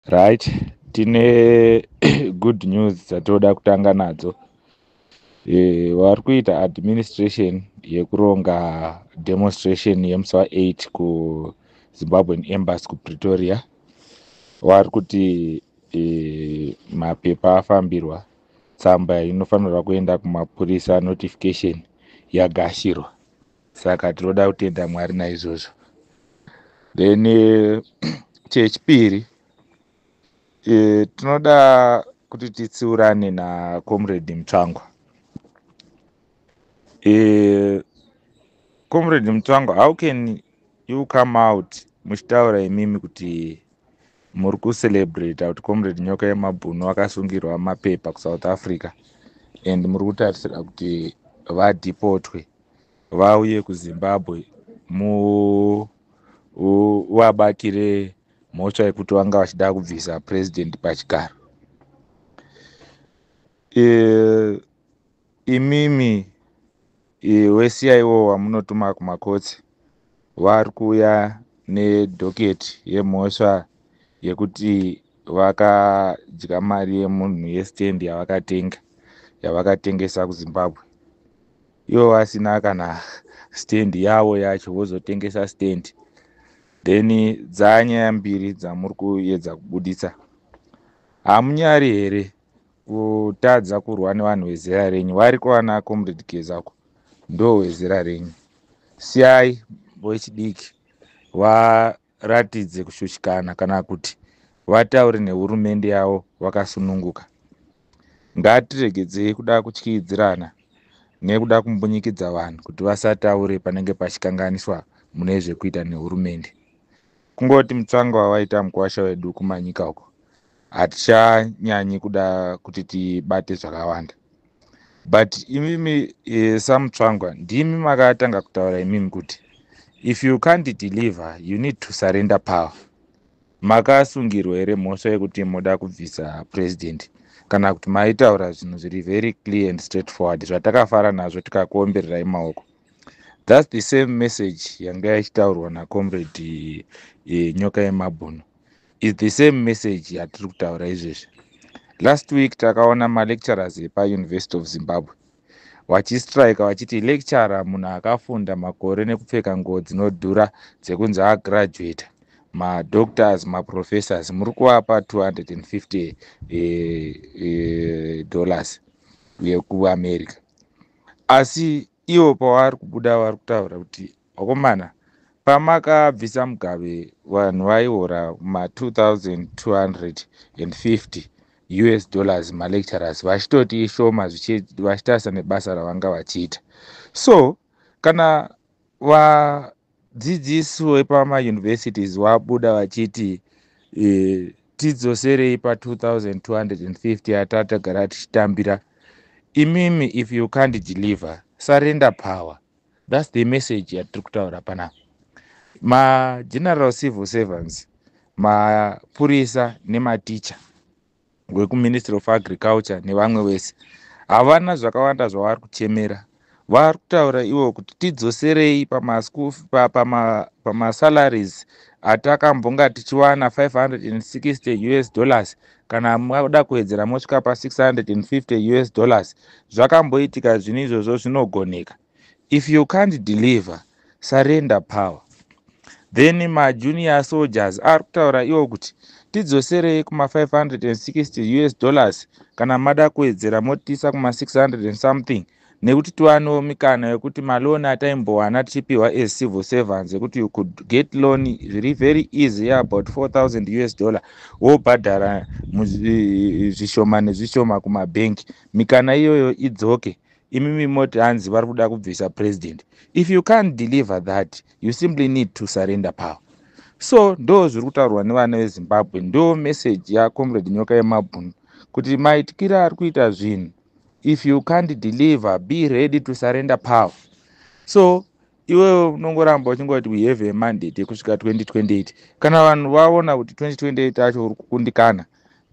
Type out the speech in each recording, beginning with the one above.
right tine good news dzatoda kutanga nadzo e, vari kuita administration yekuronga demonstration yemusi wa8 kuzimbabwean embassy kupretoria vari kuti e, mapepa afambirwa tsamba inofanirwa kuenda kumapurisa notification yagashirwa saka tinoda kutenda mwari naizvozvo then eh, chechipiri eh, tinoda kuti titsiurane nacomrade mutsvangwa eh, comrade mutsvangwa how can you come out muchitaura imimi kuti Muri ku celebrate kuti comrade nyoka yemabhunu akasungirwa mapepa ku South Africa and muri kutarisira kuti vadhipotwe vauye ku Zimbabwe mu vabatire mhosva yekuti vanga vachida kubvisa president pachigaro. E, Imimi iwe siyaiwo wamunotuma kumakotsi vari kuuya nedhoketi yemhosva yekuti vakadya mari yemunhu yestendi yavakatenga yavakatengesa kuzimbabwe ivo vasina kana stendi yavo yacho vozotengesa stendi then dzanyaya mbiri dzamuri kuyedza kubuditsa hamunyari here kutadza kurwa nevanhu vezera renyu wariko vana comrade geza ko ndo wezera renyu siyai vechidiki varatidze kushushikana kana kuti vataure nehurumende yavo vakasununguka ngatiregedzei kuda kutyidzirana nekuda kumbunyikidza vanhu kuti vasataure panenge pachikanganiswa mune zvekuita nehurumende kungoti mutsvanga wawaita mukwasha wedu kumanyika uko hatichanyanyi kuda kuti tibate zvakawanda but imimi eh, samutsvangwa ndimi makatanga kutaura imimi kuti if you can't deliver you need to surrender power makasungirwa here mhosva yekuti moda kubvisa president kana kuti maitaura zvinhu zviri very clear and straight forward zvatakafara nazvo tikakuombererai maoko thats the same message yanga ichitaurwa nacomrade eh, nyoka yemabhunu is the same message yatiri kutaura izvezvi last week takaona malecturers epauniversity of zimbabwe vachistrike vachiti lecturer munhu akafunda makore nekupfeka nguo dzinodhura dzekunzi agraduate madoctors maprofessors muri kuvapa 250 eh, eh, dollars yekuamerica asi ivo pavari kubuda vari kutaura kuti vakomana pamakabvisa mugabe vanhu vaiora ma 2250 us dollars malecturers vachitoti ishoma vachitarisa nebasa ravanga vachiita so kana va Dzidzisi wepama universities wabuda vachiti e, tidzoserei pa 2250 yatatagara tichitambira imimi if you can't deliver surrender power thats the message yatiri kutaura panapa mageneral civil servants mapurisa nematicha wekuministry of agriculture nevamwe vese havana zvakawanda zvavari kuchemera vari kutaura ivo kuti tidzoserei pamasalaries atakambonga tichiwana 560 us dollars kana mada kuwedzera mosvika pa650 us dollars zvakamboitika zvinhu izvozvo zvinogoneka if you can't deliver surrender power then majunior soldiers ari kutaura iwo kuti tidzoserei kuma560 us dollars kana mada kuwedzera motiisa kuma600 and something nekuti tiwanewo mikana yekuti maloni ataimbowana tichipiwa as civil servants yekuti you could get loan zviri very easy yeabout 4000 us dollar wobhadhara zvishoma nezvishoma kumabhenki mikana iyoyo idzoke imimi moti hanzi vari kuda kubvisa president if you can't deliver that you simply need to surrender power so ndo zviri kutaurwa nevana vezimbabwe ndo message yacomrade nyoka yemabhunu kuti maityira ari kuita zvinhu if you can't deliver be ready to surrender power so iwewe unongoramba uchingoti we have a mandate yekusvika 2028 kana vanhu vaona kuti 2028 acho uri kukundikana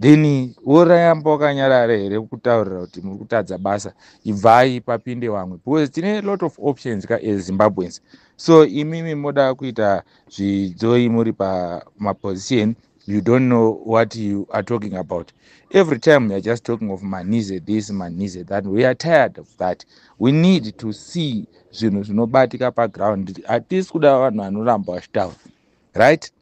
then worayamba wakanyarara here kutaurira kuti muri kutadza basa ibvai papinde vamwe because tine lot of options ka as zimbabweans so imimi moda kuita zvidzoi muri pamaposition you don't know what you are talking about every time youare just talking of manize this manize that we are tired of that we need to see zvinhu zvinobatika paground hatisi kuda vanhu vanoramba vachitaura right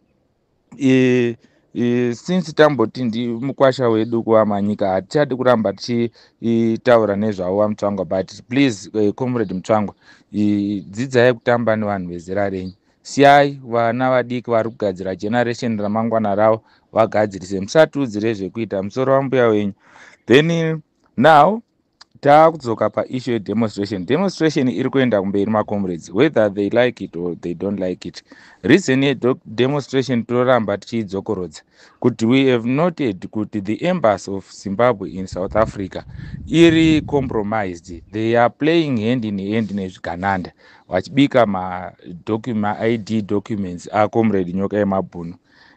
e, e, since tamboti ndi mukwasha wedu kuvamanyika hatichadi kuramba tichitaura nezvavo vamutsvangwa but please e, comrade mutsvangwa e, dzidzai kutamba nevanhu vezera renyu Siyai vana vadiki vari kugadzira generation ramangwana ravo vagadzirise musatiudzire zvekuita musoro wambuya wenyu then now taakudzoka paissue yedemonstration demonstration iri kuenda kumberi macomrades whether they like it or they don't like it reason yedemonstration tinoramba tichiidzokorodza kuti we have noted kuti the embassy of zimbabwe in south africa iri compromised they are playing hand in hand nezvigananda vachibika maID documents acomrade nyoka yemabhunu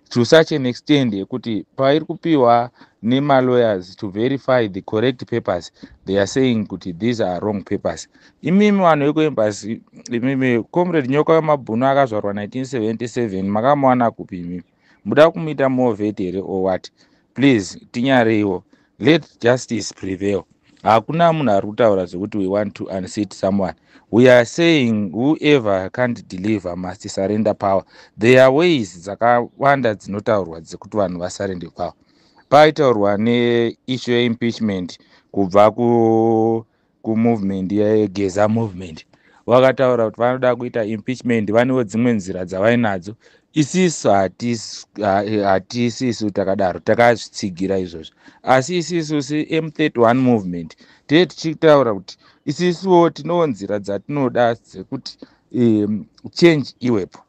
to such an extend yekuti pairi kupiwa nemalawyers to verify the correct papers they are saying kuti these are wrong papers imimi vanhu vekuembasi imimi comrade nyoka wemabhunu akazvarwa 1977 makamuwana kupi imimi muda kumuita more vet here or what please tinyareiwo let justice prevail hakuna munhu ari kutaura zvekuti we want to unseat someone we are saying whoever can't deliver must surrender power there are ways dzakawanda dzinotaurwa dzekuti vanhu vasarende power paitaurwa neissue yeimpeachment kubva ku kumovement yegeza movement vakataura kuti vanoda kuita impeachment vanewo dzimwe nzira dzavainadzo isisu hatisisu takadaro takazvitsigira izvozvo asi isisu semu31 movement tee tichitaura kuti isisuwo tinewo nzira dzatinoda dzekuti um, change iwepo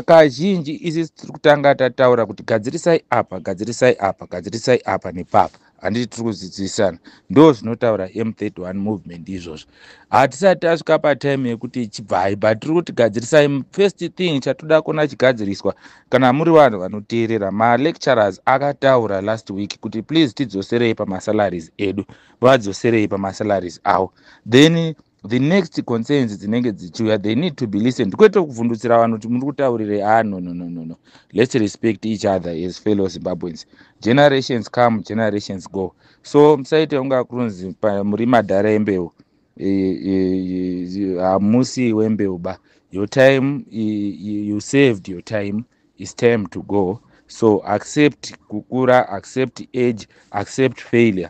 kazhinji isisi tiri kutanga tataura kuti gadzirisai apa gadzirisai apa gadzirisai apa nepapa handiti tiri kudzidzisana ndo zvinotaura m31 movement izvozvo hatisati tasvika patime yekuti chibvai but tiri kuti gadzirisai first thing chatoda kuona chigadziriswa kana muri vanhu vanoteerera malecturers akataura last week kuti please tidzoserei pamasalaries edu vadzoserei pamasalaries avo then the next concerns dzinenge dzichiuya they need to be listened kwete kuvhundutsira vanhu kuti muri kutaurirei a ah, no no no no no let's respect each other as fellow zimbabweans generations come generations go so musaite kunga kunzi muri madhara embeu e, e, e, hamusi wembeu ba your time you saved your time is time to go so accept kukura accept age accept failure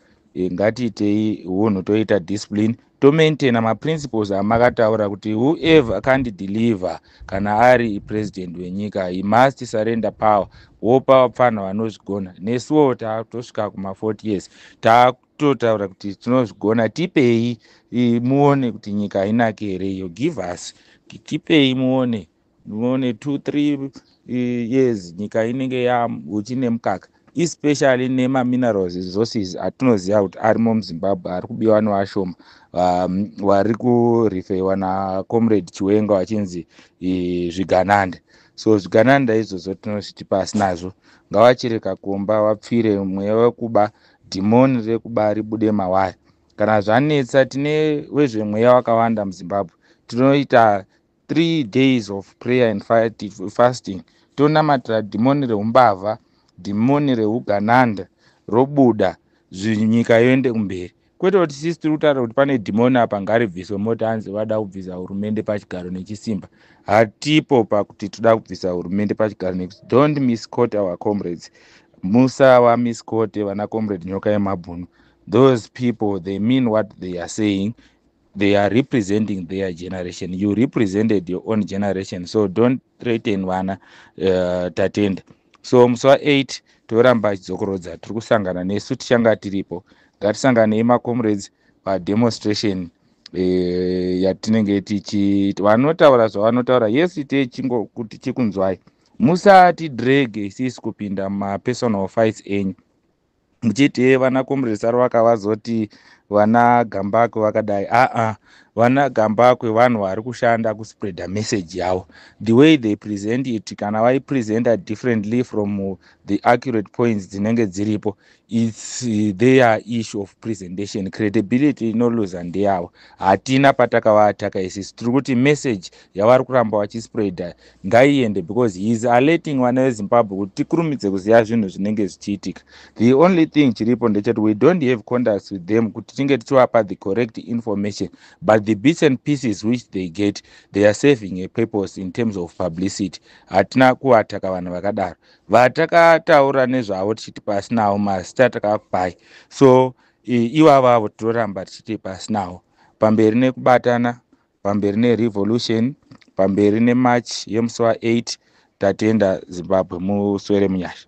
Eh, ngatiitei hunhu toita discipline tomaintaina maprinciples amakataura kuti whoever can't deliver kana ari president wenyika he must surrender power wopa vapfanha vanozvigona nesuwo tatosvika kuma40 years tatotaura kuti tinozvigona tipei muone kuti nyika hainake here iyo give us tipei muone Mune two three eh, years nyika inenge yahuchi nemukaka especially nemaminerals resources atinoziva kuti arimo muzimbabwe ari kubiwa nevashoma um, wari kurifeiwa nacomrade chiwenga wachinzi eh, zvigananda so zvigananda izvozvo tinozviti pasi nazvo ngavachere kakomba vapfire mweya wekuba dhimoni rekuba ribude mawari kana zvanetsa tine wezvemweya wakawanda muzimbabwe tinoita three days of prayer and fasting tonamatira dhimoni reumbavha dhimoni reugananda robuda nyika yoende kumberi kwete kuti sisi tiri kutaura kuti pane dhimoni apa ngaribviswe moti hanzi vada kubvisa hurumende pachigaro nechisimba hatipo pakuti toda kubvisa hurumende pachigaro nekuti don't miscot our comrades musawa miscote vana comrade nyoka yemabhunu those people they mean what they are saying they are representing their generation you represented your own generation so don't threaten vana uh, tatenda so musi wa 8 toramba achidzokorodza tiri kusangana nesu tichanga tiripo ngatisanganei macomrades pademonstration eh, yatinenge tichi vanotaura zvavanotaura yes ite chingo kuti chikunzwai musati drege isisi kupinda mumapersonal fights enyu muchiti hee vana comrade saruvaka vazoti vana gambakwe vakadai aa vana gambakwe vanhu vari kushanda kuspreada message yavo the way they present it kana vaipresenta differently from the accurate points dzinenge dziripo its uh, their issue of presentation credibility inoluza ndeyavo hatina patakavataka isisi tiri kuti message yavari kuramba vachispreada ngaiende because he is alerting vana vezimbabwe kuti tikurumidze kuziva zvinhu zvinenge zvichiitika the only thing chiripo ndechati we don't have contacts with them kuti tinge tichivapa the correct information but the bits and pieces which they get they are saving a purpose in terms of publicity hatina kuvataka vanhu vakadaro vatakataura nezvavo tichiti pasinawo mazita takapai so ivavo avo tinoramba tichiti pasinawo pamberi nekubatana pamberi nerevolution pamberi nemarch yemusi wa8 tatenda zimbabwe muswere munyasha